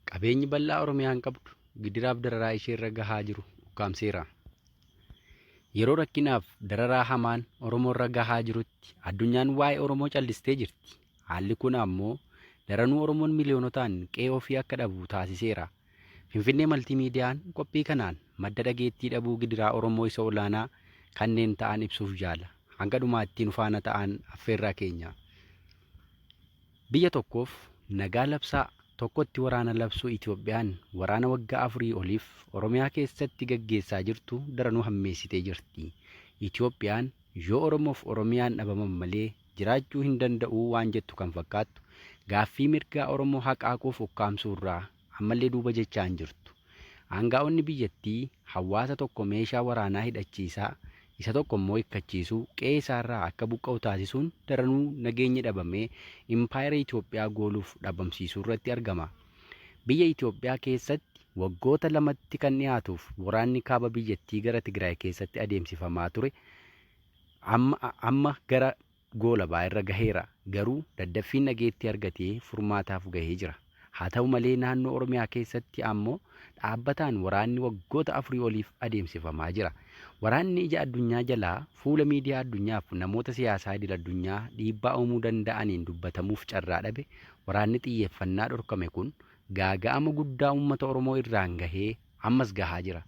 Qabeenyi bal'aa Oromiyaan qabdu gidiraaf dararaa isheerra gahaa jiru ukkaamseera. Yeroo rakkinaaf dararaa hamaan Oromoorra gahaa jirutti addunyaan waa'ee Oromoo callistee jirti. Haalli kun ammoo daranuu Oromoon miliyoonotaan qe'ee ofii akka dhabu taasiseera. Finfinnee Maltii Miidiyaan qophii kanaan madda dhageettii dhabuu gidiraa Oromoo isa olaanaa kanneen ta'an ibsuuf yaala. Hanga dhumaattii nu faana ta'aan affeerraa keenya. Biyya tokkoof nagaa labsaa, tokkotti waraana labsuu Itoophiyaan waraana waggaa afurii oliif Oromiyaa keessatti gaggeessaa jirtu daranuu hammeessitee jirti. Itoophiyaan yoo Oromoof Oromiyaan dhabaman malee jiraachuu hin danda'uu waan jettu kan fakkaattu, gaaffii mirgaa Oromoo haqaaquuf ukkaamsuurraa ammallee duuba jechaa hin jirtu. Aangaa'onni biyyattii hawaasa tokko meeshaa waraanaa hidhachiisaa, isa tokko immoo hikkachiisuu, qe'ee isaarraa akka buqqa'u taasisuun daranuu nageenyi dhabamee impaayera Itoophiyaa gooluuf dhabamsiisuurratti argama. Biyya Itoophiyaa keessatti waggoota lamatti kan dhiyaatuuf waraanni kaaba biyyattii gara Tigraay keessatti adeemsifamaa ture amma gara goolabaa irra gaheera. Garuu daddaffiin dhageettii argatee furmaataaf gahee jira. Haa ta'u malee naannoo Oromiyaa keessatti ammoo dhaabbataan waraanni waggoota afurii oliif adeemsifamaa jira. Waraanni ija addunyaa jalaa fuula miidiyaa addunyaaf namoota siyaasaa idil addunyaa dhiibbaa uumuu danda'aniin dubbatamuuf carraa dhabe waraanni xiyyeeffannaa dhorkame kun gaaga'ama guddaa uummata Oromoo irraan gahee ammas gahaa jira.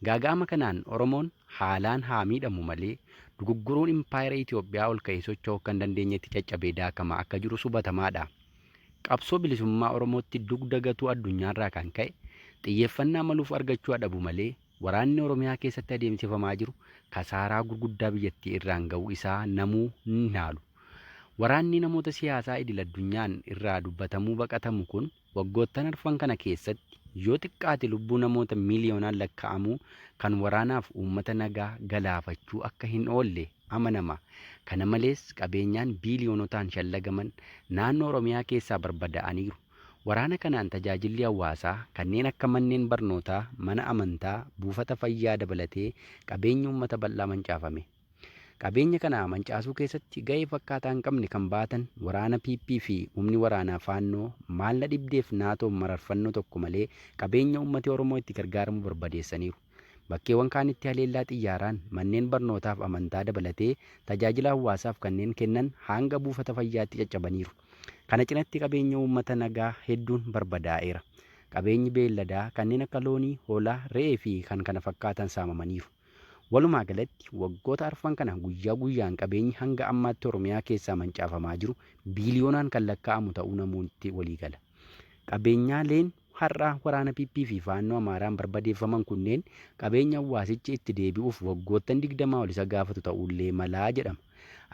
Gaaga'ama kanaan Oromoon haalaan haa miidhamu malee dugugguruun impaayera Itoophiyaa ol ka'ee socho'uu akka hin dandeenyetti caccabee daakamaa akka jirus hubatamaa dha. Qabsoo bilisummaa Oromootti dugda gatuu addunyaa irraa kan ka'e xiyyeeffannaa maluuf argachuu haa dhabu malee waraanni Oromiyaa keessatti adeemsifamaa jiru kasaaraa gurguddaa biyyattii irraan ga'uu isaa namuu hin haalu. Waraannii namoota siyaasaa idil-addunyaan irraa dubbatamuu baqatamu kun, Waggoottan arfan kana keessatti yoo xiqqaate lubbuu namoota miiliyoonaan lakkaa'amuu kan waraanaaf uummata nagaa galaafachuu akka hin oolle amanama. Kana malees qabeenyaan biiliyoonotaan shallagaman naannoo Oromiyaa keessaa barbadaa'aniiru. Waraana kanaan tajaajilli hawaasaa kanneen akka manneen barnootaa, mana amantaa, buufata fayyaa dabalatee qabeenyi uummata bal'aa mancaafame. Qabeenya kana mancaasuu keessatti gahee fakkaataa hin qabne kan bahatan waraana PP fi humni waraanaa Faannoo maalla dhibdeef Naatoon mararfannoo tokko malee qabeenya uummati Oromoo itti gargaaramu barbadeessaniiru. Bakkeewwan kaanitti haleellaa xiyyaaraan manneen barnootaaf amantaa dabalatee tajaajila hawaasaaf kanneen kennan haanga buufata fayyaatti caccabaniiru. Kana cinatti qabeenya uummata nagaa hedduun barbadaa'eera. Qabeenyi beelladaa kanneen akka loonii, hoolaa, re'ee fi kkf saamamaniiru. Walumaa galatti waggoota arfan kana guyyaa guyyaan qabeenyi hanga ammaatti Oromiyaa keessaa mancaafamaa jiru biiliyoonaan kan lakkaa'amu ta'uu namoonti waliigala. Qabeenyaaleen har'a waraana PP fi Faannoo Amaaraan barbadeeffaman kunneen qabeenya hawaasichi itti deebi'uuf waggoottan 20 ol isa gaafatu ta'uullee malaa jedhama.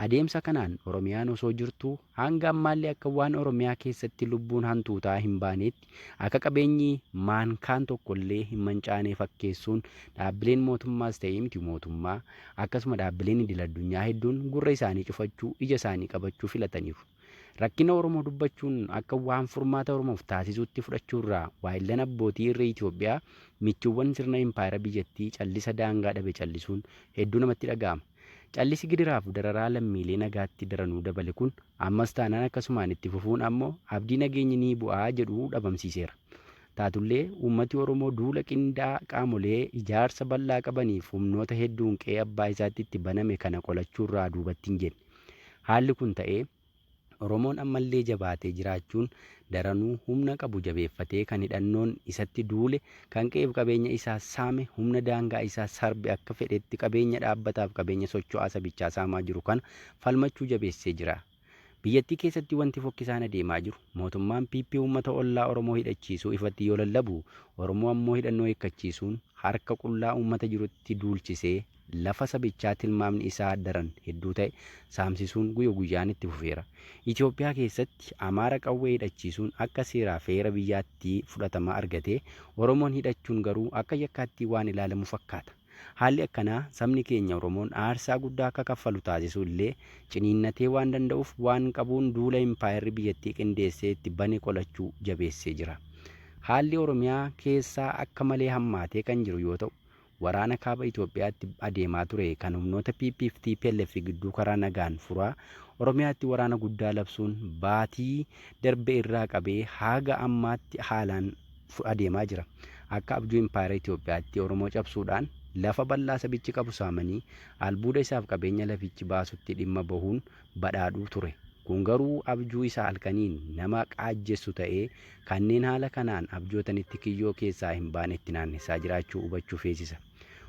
Adeemsa kanaan Oromiyaan osoo jirtuu hanga ammaallee akka waan Oromiyaa keessatti lubbuun hantuutaa hin baaneetti akka qabeenyi maan kaan tokkollee hin mancaanee fakkeessuun dhaabbileen mootummaas ta'ee miti mootummaa akkasuma dhaabbileen idil addunyaa hedduun gurra isaanii cufachuu ija isaanii qabachuu filataniiru. Rakkina Oromoo dubbachuun akka waan furmaata Oromoof taasisuutti fudhachuurraa waayillan abbootii irree Itoophiyaa michuuwwan sirna impaayera biyyattii callisa daangaa dhabe callisuun hedduu namatti dhaga'ama. Callisi gidiraaf dararaa lammiilee nagaatti daranuu dabale kun ammas taanaan akkasumaan itti fufuun ammoo abdii nageenyi ni bu'a jedhu dhabamsiiseera. Taatullee uummati Oromoo duula qindaa'aa qaamolee ijaarsa bal'aa qabaniif humnoota hedduun qe'ee abbaa isaatti itti baname kana qolachuurraa duubatti hin jenne. Haalli kun ta'ee Oromoon ammallee jabaatee jiraachuun daranuu humna qabu jabeeffatee kan hidhannoon isatti duule, kan qe'eef qabeenya isaa saame, humna daangaa isaa sarbe akka fedhetti qabeenya dhaabbataaf qabeenya socho'aa sabichaa saamaa jiru kana falmachuu jabeessee jira. Biyyattii keessatti wanti fokkisaan adeemaa jiru mootummaan PP uummata ollaa Oromoo hidhachiisuu ifatti yoo lallabu, Oromoo ammoo hidhannoo hiikkachiisuun harka qullaa uummata jirutti duulchisee, lafa sabichaa tilmaamni isaa daran hedduu ta'e saamsisuun guyya guyyaan itti fufeera. Itoophiyaa keessatti Amaara qawwee hidhachiisuun akka seeraa fi heera biyyaatti fudhatama argatee, Oromoon hidhachuun garuu akka yakkaatti waan ilaalamu fakkaata. Haalli akkanaa sabni keenya Oromoon aarsaa guddaa akka kaffalu taasisu illee ciniinnatee waan danda'uuf waan qabuun duula impaayerri biyyattii qindeessee itti bane qolachuu jabeessee jira. Haalli Oromiyaa keessaa akka malee hammaatee kan jiru yoo ta'u, Waraana Kaaba Itoophiyaatti adeemaa ture kan humnoota PP fi tplf gidduu karaa nagaan furaa Oromiyaatti waraana guddaa labsuun baatii darbe irraa qabee haaga ammaatti haalaan adeemaa jira. Akka abjuu impaayera Itoophiyaatti Oromoo cabsuudhaan lafa bal'aa sabichi qabu saamanii albuuda isaaf qabeenya lafichi baasutti dhimma bahuun badhaadhu ture. Kun garuu abjuu isa halkaniin nama qaajjessu ta'ee, kanneen haala kanaan abjootanitti kiyyoo keessaa hin baane itti naannessaa jiraachuu hubachuu feesisa.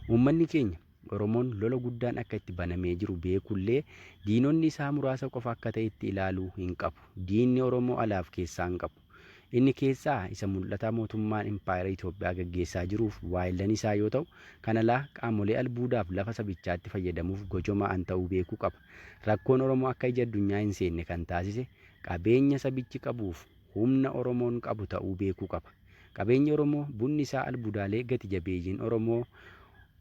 Uummanni keenya, Oromoon, lola guddaan akka itti banamee jiru beekullee, diinonni isaa muraasa qofa akka ta'etti ilaaluu hin qabu. Diinni Oromoo alaaf keessaa hin qabu. Inni keessaa isa mul'ataa mootummaan impaayera Itoophiyaa gaggeessaa jiruuf waayillan isaa yoo ta'u, kan alaa qaamolee albuudaaf lafa sabichaatti fayyadamuuf gojoma'an ta'uu beekuu qaba. Rakkoon Oromoo akka ija addunyaa hin seenne kan taasise qabeenya sabichi qabuuf humna Oromoon qabu ta'uu beekuu qaba. Qabeenyi Oromoo bunni isaa albudaalee gati jabeeyyiin Oromoo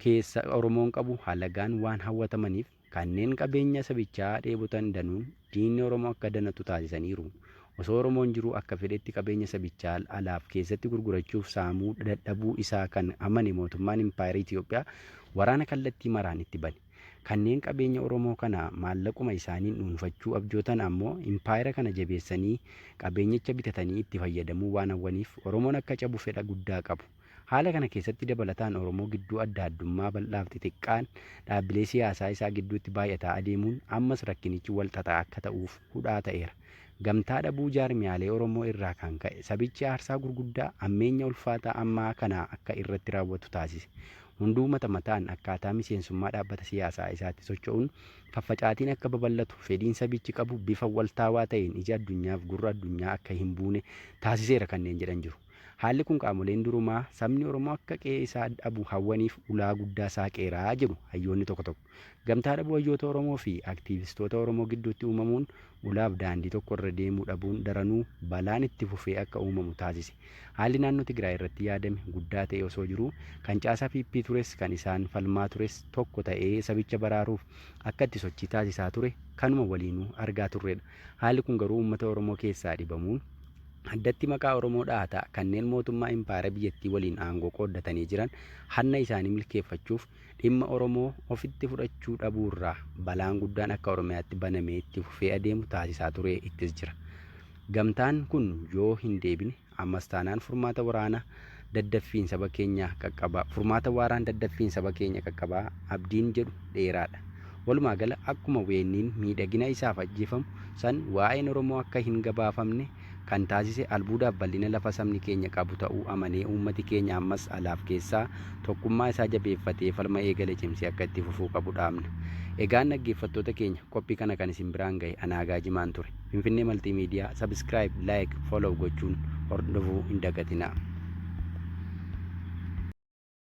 keessa Oromoon qabu halagaan waan hawwatamaniif, Kanneen qabeenya sabichaa dheebotan danuun diinni Oromoo akka danatu taasisaniiru. Osoo Oromoon jiruu akka fedhetti qabeenya sabichaa alaaf keessatti gurgurachuuf saamuu dadhabuu isaa kan amane mootummaan Impaayera Itoophiyaa waraana kallattii maraan itti bane. Kanneen qabeenya Oromoo kana maallaquma isaaniin dhuunfachuu abjootan ammoo Impaayera kana jabeessanii qabeenyicha bitatanii itti fayyadamuu waan hawwaniif Oromoon akka cabu fedha guddaa qabu. Haala kana keessatti dabalataan Oromoo gidduu adda addummaa bal'aaf xixiqqaan dhaabbilee siyaasaa isaa gidduutti baay'ataa adeemuun ammas rakkinichi wal xaxaa akka ta'uuf hudhaa ta'eera. Gamtaa dhabuu jaarmiyaalee Oromoo irraa kan ka'e sabichi aarsaa gurguddaa hammeenya ulfaataa ammaa kana akka irratti raawwatu taasise. Hunduu mata mataan akkaataa miseensummaa dhaabbata siyaasaa isaatti socho'uun faffacaatiin akka babal'atu fedhiin sabichi qabu bifa waltaawaa ta'een ija addunyaaf gurra addunyaa akka hin buune taasiseera kanneen jedhan jiru. Haalli kun qaamoleen durumaa sabni Oromoo akka qe'ee isaa dhabu hawwaniif ulaa guddaa saaqeera jedhu hayyoonni tokko tokko. Gamtaa dhabuu hayyoota Oromoo fi aktiivistoota Oromoo gidduutti uumamuun ulaaf daandii tokko irra deemuu dhabuun daranuu balaan itti fufee akka uumamu taasise. Haalli naannoo Tigraay irratti yaadame guddaa ta'ee osoo jiruu kan caasaa PP tures kan isaan falmaa tures tokko ta'ee sabicha baraaruuf akka itti sochii taasisaa ture kanuma waliinuu argaa turredha. Haalli kun garuu uummata Oromoo keessaa dhibamuun, addatti maqaa Oromoo dhahataa kanneen mootummaa impaayera biyyattii waliin aangoo qooddatanii jiran hanna isaanii milkeeffachuuf dhimma Oromoo ofitti fudhachuu dhabuurraa balaan guddaan akka Oromiyaatti banamee itti fufee adeemu taasisaa turee ittis jira. Gamtaan kun yoo hindeebine. Ammas taanaan furmaata waraana daddaffiin saba keenya qaqqabaa furmaata waaraan daddaffiin saba keenya qaqqabaa abdiin jedhu dheeraadha. Walumaa gala akkuma weenniin miidhagina isaaf ajjeefamu san waa'een Oromoo akka hin gabaafamne kan taasise albuudaaf bal'ina lafa sabni keenya qabu ta'uu amanee uummati keenya ammas alaaf keessaa tokkummaa isaa jabeeffatee falma eegale cimsee akka itti fufuu qabu dhaamna. Egaan dhaggeeffattoota keenya qophii kana kan isin biraan gahe Anaagaa Jimaan ture. Finfinnee Maltiimiidiyaa Subscribe, Like, Follow gochuun hordofuu hin dagatinaa.